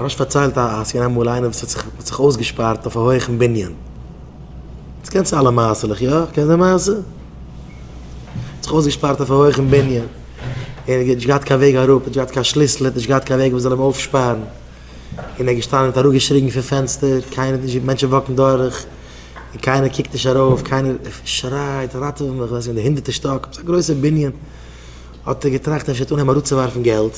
ר' אשר פארציילט אז ס'איז געווען אמאל איינער וואס האט זיך אויסגעשפארט אויף א הויכן בנין. דאס קענסטו אלע מעשה'לעך, יא? קענסט די מעשה? האט זיך אויסגעשפארט אויף א הויכן בנין. ער האט נישט געהאט קיין וועג אראפ, נישט געהאט קיין שליסל, נישט געהאט קיין וועג וואס זאל אים אויפשפארן. און ער איז געשטאנען און האט אראפגעשריגן פון פענסטער, קיינער האט נישט געוואוסט, מענטשן וואקן דורך, און קיינער קוקט נישט ארויף, קיינער שרייט ראטעווע מיך, ווען ס'איז געווען די הונדערטע שטאק, ס'איז א גרויסע בנין. האט ער געטראכט אפשר טאר מען אים אראפצואווארפן געלט.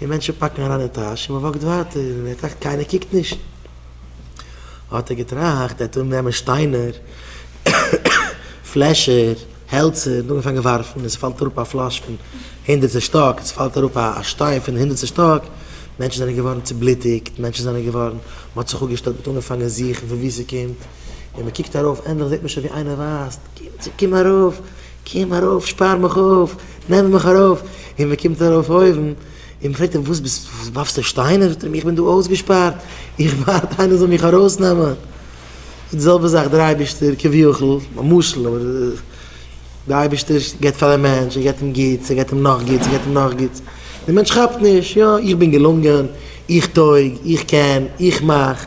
און מענטשן פּאַקן אַרײַן אין טאַש, און מע װאָקט װײַטער, און ער טראַכט, קײנער קוקט נישט. האָט ער געטראַכט, ער װעט אָננעמען שטײנער, פֿלעשער, העלצער, און אָנגעפֿאַנגען װאַרפֿן, און עס פֿאַלט אַראָפּ אַ פֿלאַש פֿון הונדערטסטער שטאָק, און עס פֿאַלט אַראָפּ אַ שטײן פֿון הונדערטסטער שטאָק. מענטשן זענען געװאָרן צעבלוטיקט, מענטשן זענען געװאָרן, מע האָט זיך אָפּגעשטעלט, מע האָט אָנגעפֿאַנגען זוכן, פֿון װוּ ס'קומט, און מע קוקט אַרױף, ענדלעך זעט מען שױן, װי אײנער װײַזט, קום, קום אַרױף, קום אַרױף, שפּאַר מיך אױף, נעמט מיך ארויף, און מען קומט ארויף אויבן, און מען פרעגט אים וואס ביסט ווארפסטו שטיינער? זאגט ער אים איך בין דא אויסגעשפארט, איך ווארט איינער זאל מיך ארויסנעמען, די זעלבע זאך דער אייבערשטער כביכול, א משל, אבער דער אייבערשטער גיבט פאר א מענטש, ער גיבט אים גוטס, ער גיבט אים נאך גוטס, ער גיבט אים נאך גוטס, דער מענטש כאפט נישט, יא איך בין געלונגען, איך טויג, איך קען, איך מאך,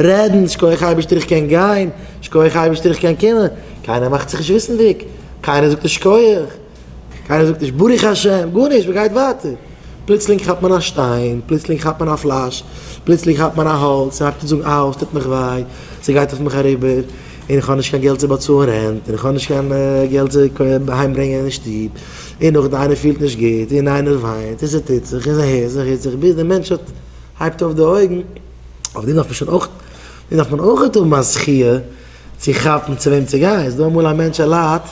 רעדן, שקויעך אייבערשטער איך קען גיין, שקויעך אייבערשטער איך קען קומען, קיינער מאכט זיך נישט וויסנדיג, קיינער זאגט נישט שקויעך, קיינער זאגט נישט ברוך השם, גארנישט, מען גייט ווייטער, פלוצלינג כאפט מען א שטיין, פלוצלינג כאפט מען א פלאש, פלוצלינג כאפט מען א האלץ, מען הייבט אן זאגן אאו עס טוט מיך וויי, ס'גייט אויף מיך אריבער, און איך האב נישט קיין געלט צו באצאלן רענט, און איך האב נישט קיין געלט צו אהיים ברענגען אין שטוב, און נאכדעם איינער פילט נישט גוט, און איינער וויינט, און ס'טוט זיך, און ס'הערט זיך, און ס'הערט זיך, ביז דער מענטש האט, הייבט אויף די אויגן. אבער דא דארף מען שוין אויך, דא דארף מען אויך האבן א זכיה צו כאפן צו וועם צו גיין, ס'איז דא אמאל א מענטש ער ליידט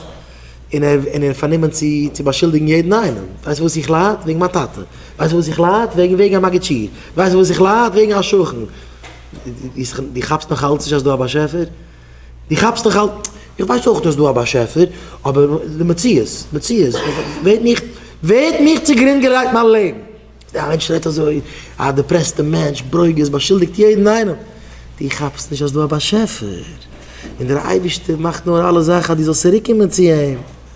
און ער און ער איז פארנומען צו צו באשולדיגן יעדן איינעם, ווייסט פארוואס איך לייד? וועגן מיין טאטע, ווייסט פארוואס איך לייד? וועגן וועגן א מגיד שיעור, ווייסט פארוואס איך לייד? וועגן א שכן, דו כאפסט נאך אלץ נישט אז ס'איז דא א באשעפער? דו כאפסט נאך אלץ, איך ווייס אויך אז ס'איז דא א באשעפער, אבער די מציאות, מציאות, ווער האט מיך, ווער האט מיך צוגרינד געלייגט מיין לעבן? א מענטש רעדט אזוי, א דעפרעסטע מענטש, ברוגז, באשולדיגט יעדן איינעם. דו כאפסט נישט אז דא א באשעפער, און דער אייבערשטער מאכט נאר אלע זאכן אז דו זאלסט צוריקקומען צו אים.